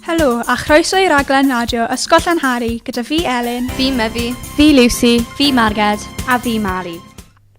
Helo a chroeso i raglen radio Ysgol Llanhari gyda fi Elin. Fi Mefi. Fi Lucy. Fi Marged. A fi Mari.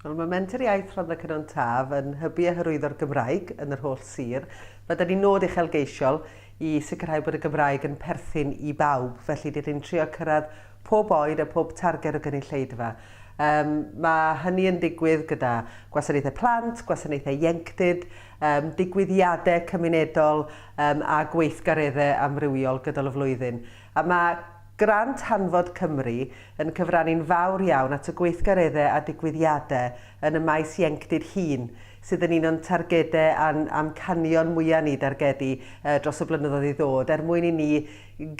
Wel, mae Menter Iaith Rhondda Cynon Taf yn hybu a hyrwyddo'r Gymraeg yn yr holl sir. Mae da ni nod uchelgeisiol i sicrhau bod y Gymraeg yn perthyn i bawb, felly dydyn ni'n trio cyrraedd pob oed a pob targed o gynulleidfa. Yym, mae hynny yn digwydd gyda gwasanaethau plant, gwasanaethau ieunctid, yym, digwyddiadau cymunedol yym, a gweithgareddau amrywiol gydol y flwyddyn. A mae Grant Hanfod Cymru yn cyfrannu'n fawr iawn at y gweithgareddau a digwyddiadau yn y maes ieunctid hŷn, sydd yn un o'n targedau a'n amcanion mwyaf ni dargedu yy, dros y blynyddoedd i ddod, er mwyn i ni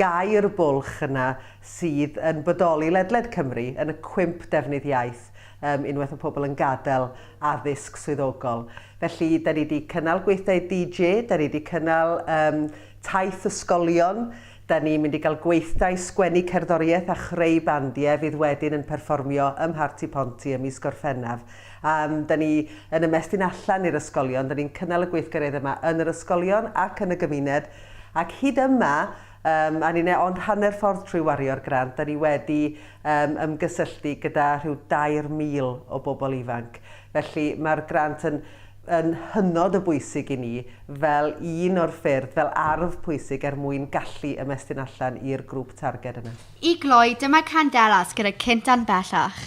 gau'r bwlch yna, sydd yn bodoli ledled Cymru yn y cwymp defnydd iaith, yym, unwaith mae pobl yn gadael addysg swyddogol. Felly, da ni wedi cynnal gweithdai DJ, da ni wedi cynnal um, taith ysgolion, da ni'n mynd i gael gweithdai sgwennu cerddoriaeth a chreu bandiau fydd wedyn yn perfformio ym Mharti Ponty ym mis Gorffennaf. Um, da ni yn ymestyn allan i'r ysgolion, da ni'n cynnal y gweithgareddau yma yn yr ysgolion ac yn y gymuned, ac hyd yma Yym, a ni'n e ond hanner ffordd trwy wario'r grant, a ni wedi yym ymgysylltu gyda rhyw 2,000 o bobl ifanc. Felly, mae'r grant yn yn hynod o bwysig i ni fel un o'r ffyrdd, fel arf pwysig er mwyn gallu ymestyn allan i'r grŵp targed yna. I gloi, dyma Candelas gyda Cynt An Bellach.